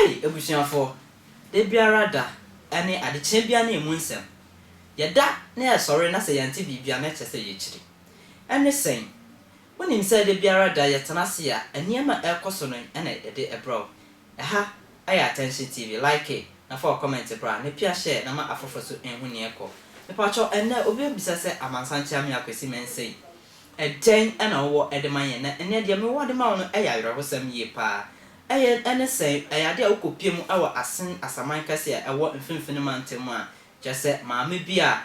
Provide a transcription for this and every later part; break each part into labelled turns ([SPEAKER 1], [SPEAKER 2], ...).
[SPEAKER 1] Ai abusuafoɔ, da biara da ne adekyeɛ biara ne ɛmu nsɛm. Yɛda na yɛsɔre na sɛ yɛnte biribi a na ɛkyerɛ sɛ yɛkyiri. Ɛne sɛn? Wonim sɛ da biara da yɛtena ase a nneɛma a ɛrekɔ so no na yɛde brɛ wo. Ɛha ɛyɛ attention TV like na fa wɔ comment bra na pia share na ma afoforɔ so nhu neɛ ɛkɔ Mepakyɛw ɛnnɛ obi bɛbisa sɛ Amansan Kyeame Akwasi Mensah yi ɛdɛn na wowɔ de ma yɛn na ɛnnɛ deɛ mewɔ de ma wo no ɛyɛ awerɛhosɛm yie paa ɛyɛ ɛne sɛn ɛyɛ adeɛ a wokɔ pie mu wɔ Asen Asaman kɛse a ɛwɔ mfinfini mantam mu a kyerɛ sɛ maame bi a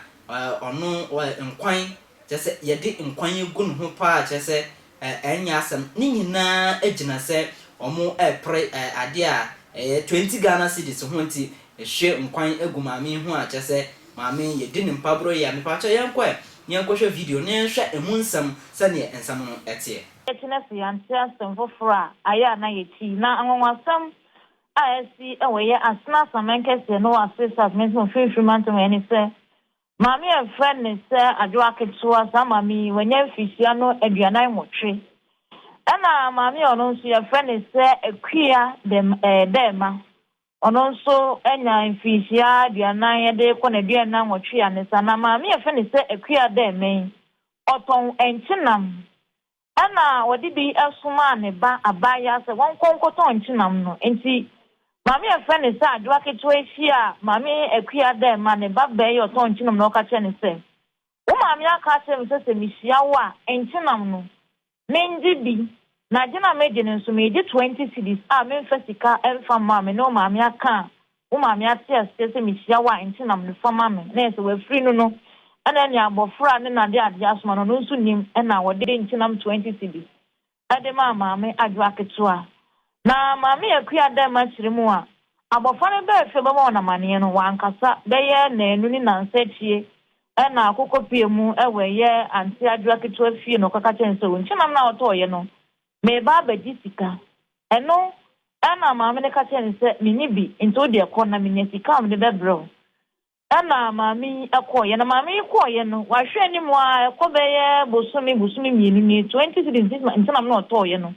[SPEAKER 1] ɔno nkwan kyerɛ sɛ yɛde nkwan agu ne ho paa kyerɛ sɛ Ɛ, ɛnyɛ asɛm. Ne nyinaa gyina sɛ wɔrepere ɛ, adeɛ a ɛyɛ twenty Ghana cedis ho nti, ɛhwie nkwan gu maame yi ho a, kyerɛ sɛ, maame yi, yɛdi no mpaborɔ yie a, mepakyɛw yɛnkɔ ɛ, yɛnkɔhwɛ video na yɛnhwɛ ɛmu nsɛm, sɛdeɛ nsɛm no teɛ. Ɛkyena so yɛante
[SPEAKER 2] asɛm foforɔ a ayɛ a na yɛkyi. Na anwanwasɛm a asi wɔ yɛ Asena Asaman Kɛseɛ no wɔ Asees Asaman Kɛseɛ mu mfimfini mantam ha ni sɛ, Maame a yɛfrɛ no sɛ Adwoa ketewa, saa maame yi wanya mfirihyia no aduanan nwɔtwe. Ɛna maame a ɔno nso yɛfrɛ no sɛ Akua dɛm ɛɛ Dɛɛma. Ɔno nso anya mfirihyia aduanan ɛde kɔ n'aduan nnan nwɔtwe a ne sa. Na maame a yɛfrɛ no sɛ Akua Dɛɛma yi, ɔtɔn nkyenam Ɛnna ɔde bi somaa ne ba abaayaa sɛ wɔnkɔ nkɔtɔn nkyenam no. Enti maame a wɔfrɛ no sɛ Adwoa Ketewa yi hyiaa Maame Akua dɛ ma ne ba bɛyɛ ɔtɔn nkyenam na ɔka kyerɛɛ no sɛ, Wo maame aka akyerɛ me sɛ sɛ mihyia wo a, nkyenam no, mengye bi, na gye no a megye no nso, meregye twenty cedis a memfa sika mfa mma a me ne wo maame aka a Wo maame ate aseɛ sɛ mehyia wo a nti nam ne fa ma me na yɛ sɛ wafiri no no ɛna ɛne abɔfra a ne na de adeɛ asoma no no nso nnim ɛna ɔde nkyenam 20 cedis ɛde maa maame adwoa ketewa na maame akua dɛm akyire mu a abɔfra no baa fie bɛbɔ wɔn amaneɛ no wankasa bɛyɛ naanu ne nansa akyie ɛna akokɔ pue mu ɛwɔ ɛyɛ ante adwoa ketewa fie na ɔkɔka kyerɛ no sɛ nkyenam no a ɔtɔɔyɛ no Mereba abɛgye sika. Ɛno na maame no ka kyerɛɛ no sɛ, Menni bi, nti wo deɛ kɔ na menya sika a mede bɛbrɛ wo. Ɛnna maame yi kɔeɛ. Na maame yi kɔeɛ no, wahwɛ anim ara, ɛkɔ bɛyɛ bosome, bosome mmienu nie, twenty cedis nti na nti na me na ɔtɔeɛ no.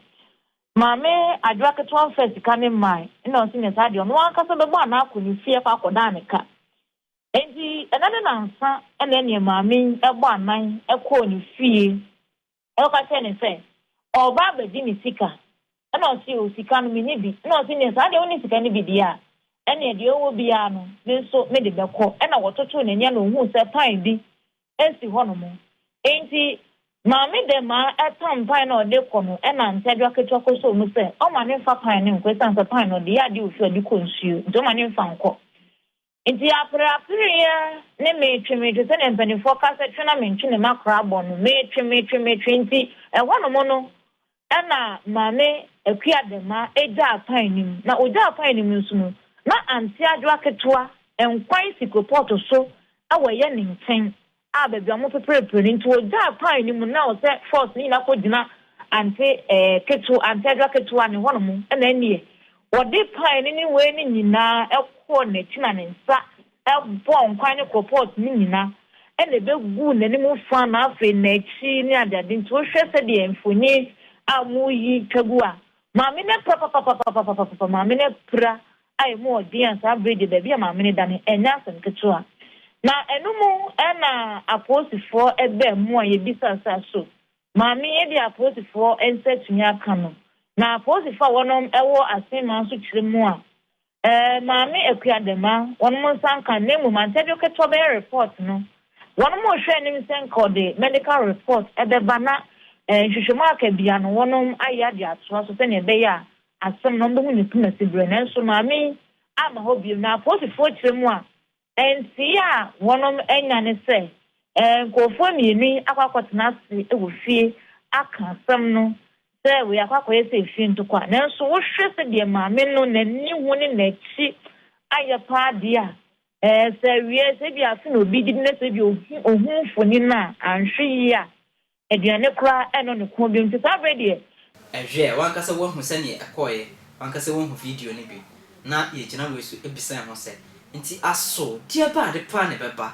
[SPEAKER 2] Maame Adwoa ketewa mfaa sika no mmae, ɛnna ɔse nyɛ saa deɛ, ɔno ankasa bɛbɔ anaa akɔ ne fie akɔ akɔdan ne ka. Enti, ɛnnɛ ne nnansa na ɛnneɛ maame yi bɔ anan kɔɔ ne fie Ɛna ɔka kyerɛɛ no sɛ, Ɔreba abɛgye ne sika. Ɛna ɔse, O, sika no, menni bi. Ɛna ɔse, Nea saa deɛ wonni sika no bi deɛ a, ɛneɛ deɛ ɔwɔ biara no, me nso mede bɛkɔ. Ɛna wɔtotoo n'ani ɛna ɔhuu sɛ pan bi si hɔ nom. Enti Maame dɛ maa ɛpam pan no a ɔde rekɔ no ɛna Ntɛdwa ketewa kɔsoo mu sɛ ɔmma no mfa pan no nkɔ, ɛsiane sɛ pan no ɔde yɛ adeɛ a ɔfiri ade kɔ nsuo nti ɔmma no mfa nkɔ. Enti apereapereɛ ne metwe metwe sɛdeɛ mpanimfoɔ ka sɛ twe na mentwe ne makora bɔ no, metwe metwe metwe nti ɛhɔnom no na Maame Akua Dɛma gyaa pan no mu. Na ɔgyaa pan no mu nso no, na anteɛ adwoa ketewa, nkwan si koropɔɔto so wɔ yɛ ne nkyɛn. a baabi a wɔpeperepere no nti wɔgyaa kwan no mu na ɔsɛ force no nyinaa kɔgyina ante eh, ketewa, antedra ketewa ne hɔnom na ɛneɛ wɔde pan no ne wei no nyinaa kɔɔ n'akyi na ne nsa bɔɔ nkwan ne kropɔt no nyinaa ɛna ɛbɛguu n'anim fa na afei n'akyi ne adeade nti wohwɛ sɛdeɛ mfoni a moyi twa gu a maame no apira papapapapapapa maame no apira a emu wɔ den a saa bere yi de baabi a maame no da no ɛnyɛ asɛm ketewa. Na ɛno mu na apolisifoɔ baa mu a yɛbisaa sɛ aso maame yi de apolisifoɔ nsa atumi aka no. Na apolisifoɔ a wɔnom wɔ Asen man so kyerɛ mu a eh, maame Akuadama wɔnom nsa nka na mmom antɛdwo ketewa bɛyɛ report no. Wɔnom rehwɛ anim sɛ nka ɔde medical report bɛba na eh, nhwehwɛmu aka bia no wɔnom ayɛ de atoa so sɛnea ɛbɛyɛ a asɛm na wɔbɛhu ne poma siberɛ, nanso Maame yi amma hɔ bio, na apolisifoɔ kyerɛ mu a, nteeɛ a wɔn anya ne sɛ nkorɔfoɔ mmienu yi akɔ akɔtena ase wɔ fie aka asɛm no sɛ wei akɔ akɔyɛ sɛ efie ntɔkwa, nanso wohwɛ sɛdeɛ Maame no n'ani ho ne n'akyi ayɛ paa deɛ a, sɛ awieɛ sɛ ebia afe na obi gyedi na sɛ ebia ohu mfonin no a, anhwɛ yie a Aduane koraa ɛno ne ko bio nti saa berɛ deɛ. Ɛhwɛ, w'ankasa
[SPEAKER 1] woahu sɛdeɛ ɛkɔeɛ, w'ankasa woahu video no bi, na yɛgyina wei so bisa yɛn ho sɛ, Nti aso deɛ ba ade paa na ɛbɛba?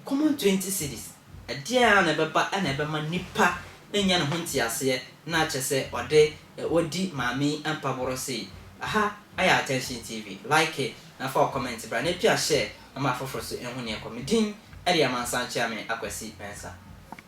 [SPEAKER 1] Common twenty cedis, ɛdeɛn ara na ɛbɛba na ɛbɛma nipa anya ne ho nteaseɛ na akyɛ sɛ ɔde wadi maame yi mpaborɔ sei? Aha yɛ Attention TV, like na fa wo comment bra na ɛpia share ma afoforo nso nhu deɛ ɛkɔ. Me din de Amansan Kyeame Akwasi Mensah.